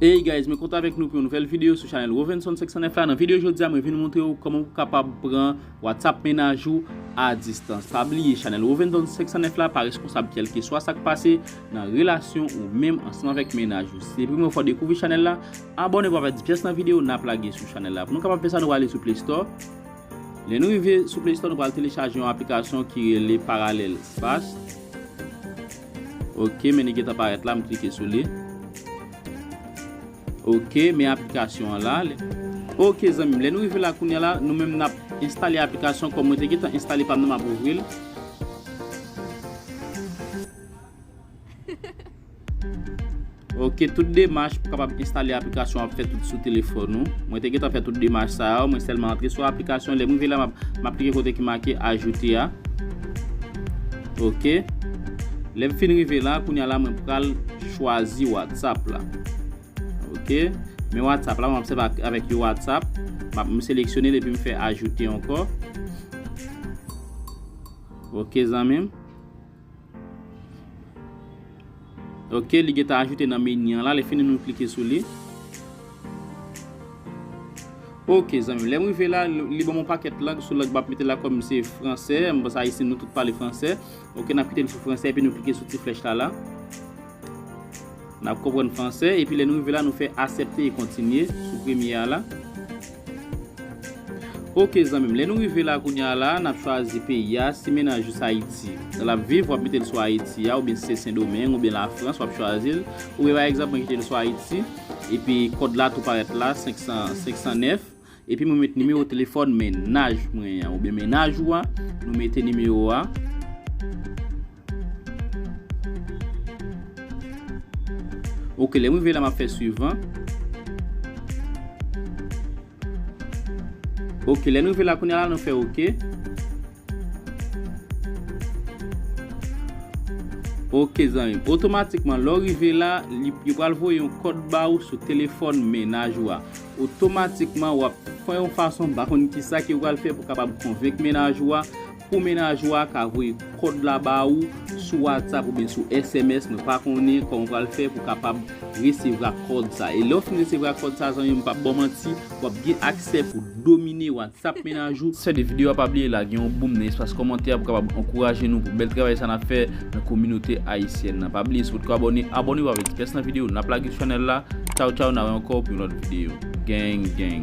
Hey guys mwen kontan avèk nou pou yon nouvèl video sou chanèl Rovenson 509 la nan video jodia mwen vin moutre ou kòman pou kapab pran WhatsApp mennaj ou a distans pa bliye chanèl Rovenson 509 la pa reskonsab kèlkeswa sak pase nan relasyon ou menm ansanm avèk mennaj ou si se premye fwa ou dekouvri chanèl la abòne pou pa pèdi pyès nan video nap lage sou chanèl la pou nou kapab fè sa nou prale sou play store lè nou rive sou play store nou pral telechaje yon aplikasyon ki rele parallel fast. Ok men li gentan parèt la m klike sou li Ok men aplikasyon an la Ok zanmim lè nou rive la kounya la nou menm nap enstale aplikasyon kòm mwen te gentan enstale pam nan map ouvril Hehe. Ok tout demach pou kapab enstale aplikasyon ap fè tout sou telefòn ou mwen te gentan fè tout demach sa yo mwen sèlman antre sou aplikasyon lèm rive la map klike kote ki make ajoute a ok lèm fin rive la kounya la mwen pral chwazi whatsapp la ok men whatsapp la mwen ap sèv avèk yon whatsapp map m seleksyonel epi m fè ajoute ankò ok zanmim. Ok li gentan ajoute nan meni an la lè fini nou klike sou li Ok zanmim lèm rive la li banm yon pakèt lang sou lang map mete la kòm se fransè m panse ayisyen nou tout pale fransè ok nap kite l sou fransè epi nou klike sou ti flèch la la. N ap konprann franse epi lè nou rive la nou fè asèpte e kontinye sou premye a la. Ok zanmi m lè nou rive la kounye a la n ap chwazi peyi a si mennaj ou se Ayiti l ap viv w ap mete l sou Ayiti a oubyen si se Sendomeng oubyen Lafrans w ap chwazi l oubyen pa egzanp mwen kite l sou Ayiti epi kòd la tou parèt la 500 509. Epi mwen met nimewo telefòn men naj mwen an oubyen men naj ou a, nou mete nimewo a. Ok, lè m rive la m ap fè suivan. Ok, lè n rive la kounye a la nou fè ok. Ok zanmim, otomatikman lè w rive la, yo pral voye yon kòd ba ou sou telefòn mennaj ou a. Otomatikman w ap fè yon fason, m pa konn kisa ke w pral fè pou w kapab konvenk mennaj ou a, pou mennaj ou a ka voye kòd la ba ou sou WhatsApp oubyen sou sms, mwen pa konnen kòman w pral fè pou w kapab resevwa kòd sa. E lè w fin resevwa kòd sa zanmim m pap ba w manti, w ap gen aksè pou domine WhatsApp. Tap mennen a jou. Sè de video a pa bliye lage yon boom nan espas kòmantè a pou kapab ankouraje nou pou bèl travay sa nap fè nan kominote ayisyèn nan pa bliye si potko abòne abònew avèk ti kès nan video nap lage sou chanèl la tchaw tchaw na wè ankò pou yon lòt video gang gang.